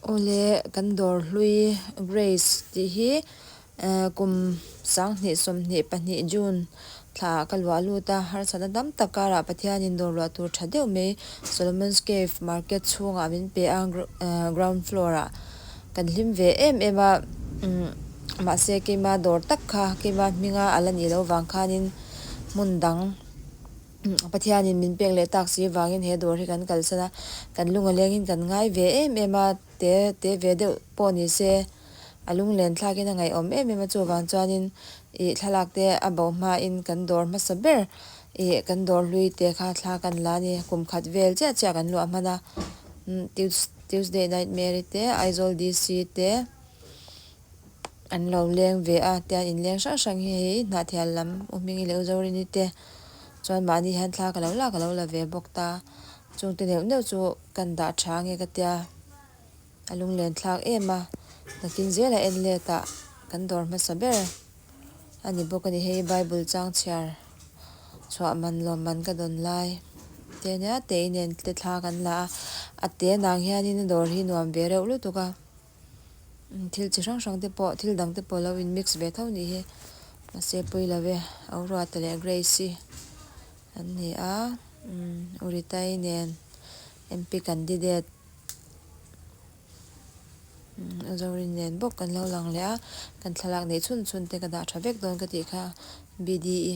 Awle kan dawr hlui Grace tih hi ehh kum sanghnih sawmhnih pahnih June thla ka luah lut a, harsatna tam tak karah Pathianin dawr luah tur tha deuh mai Solomon's Cave market chhungah min pe a, ground floor ah kan hlim ve em em a, mahse keima dawr tak kha keima hminga a la nih loh vang khanin hmun dang. Pathianin min pek leh tak si vangin he dawr hi kan kalsan a, kan lunga lengin kan ngai ve em em a, te te ve deuh pawh ni se, a lunglen thlakin a ngaihawm em em a, chuvang chuanin ih thlalakte a bo hmain kan dawr hmasa ber ih kan dawr hlui te kha thlak a ni la a ni, kum khat vel chiah chiah kan luah hman a, Tuesday Nightmare te, Aizawl DC te. an lo leng ve a, tian in leng hrang hrang hi hei Hnahthial lam U Hmingi leh U Zorini te chuan mahni hian thla ka lo lak a lo la ve bawk ta, chung te neuh neuh chu kan dah tha nge ka tia a lung len thlak em a, nakin zel a en let a kan dawr hmasa ber a ni bawk a ni, hei Bible chang chhiar chhuah man lawm man ka dawn lai te nia tei nen te thla kan la a, a te nang hian in a dawr hi nuam ve reuh lutuk a. Thil chi hrang hrangte pawh thil dangte pawh lo in mix ve tho nih hi mahse Puilovi, Auruata leh Grace an ni a, Uritai nen MP candidate Zorin nen bawk kan lo lang leh a, kan thlalak neih chhun chhunte ka dah tha vek dawn ka tih kha BDE.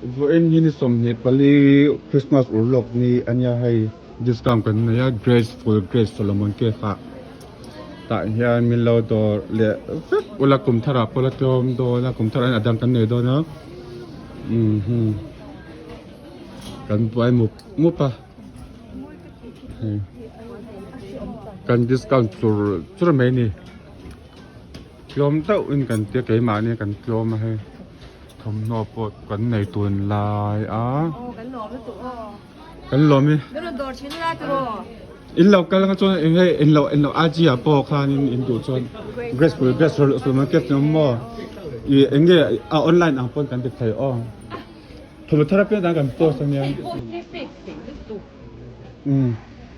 Vawiin hi ni sawmhnih pali Christmas ur lawk ni ania hei discount kan nei a Grace Full Grace Solomon Cake ah tah hian min lo dawr leh vek ula kum thar ah pawh la tlawm dawn a kum thar ah hian a dang kan nei dawn a umhmm kan buai mup mup a hei kan discount chur chur mai a ni. tlawm deuh in kan tia keimahni kan tlawm a hei thawmhnaw pawh kan nei tun lai a kan lawm hi in lo kal anga chuan eng nge in lo in lo a chi a pawh khan in in duh chuan grace pui grace rawlh a suma kep chuan maw i eng nge a online ang pawn kan ti thei aw thawmhnaw thar apiang dan kan post ania um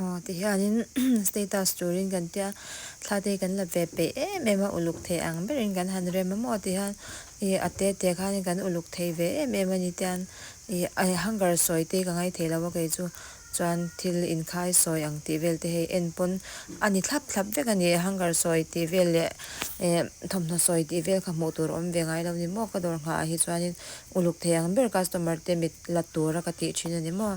Aw, ti hianin status turin kan tia, Thlate kan la ve peih em em a, uluk thei ang berin kan han rem a maw ti hian i a te te khanin kan uluk thei ve em em a ni tian i a hunger sawi te ka ngai thei lo a kei chu chuan thil inkhai sawi ang tih vel te hei en pawn a ni thlap thlap vek a ni, hunger sawi tih vel leh e thawmhnaw sawi tih vel kha hmuh tur awm ve ngai lo a ni maw ka dawr nghah ah hi chuanin uluk thei ang ber customer te mit la tura ka tih thin a ni maw.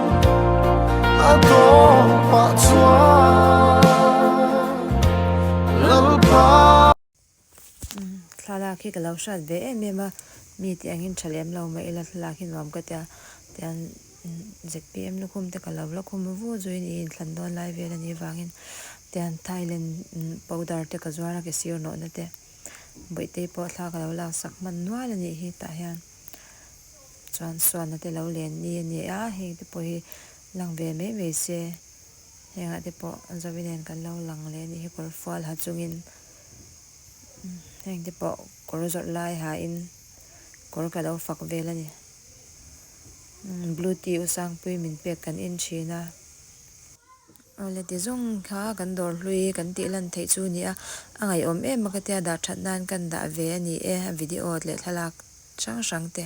thlalak hi ka lo hriat ve em em a mi tih angin tha lem lo mai ila thlalak hi nuam ka tia tian zkpm lukhum te ka lo la khum vu vu zui niin thlan dawn lai vel anih avangin tian thailand powder te ka zuar a ke sir nawh na te bawihte pawh thla ka lo laksak hman nual anih hi tah hian. Chuan Suana te lo len ni a nia heng te pawh hi lang ve mai mai se. Hengah te pawh zo i nen kan lo lang leh ni hi kawr fual ha chung in heng te pawh kawr zawrh lai ha in kawr ka lo fak vel a ni. Blue tea u Sangpuii min pek kan en thin a. Awle ti zawng kha kan dawr hlui kan tih lan theih chu ni a. A ngaiawm em a ka tia dah that nan kan dah ve a ni e a video leh thlalak hrang hrang te.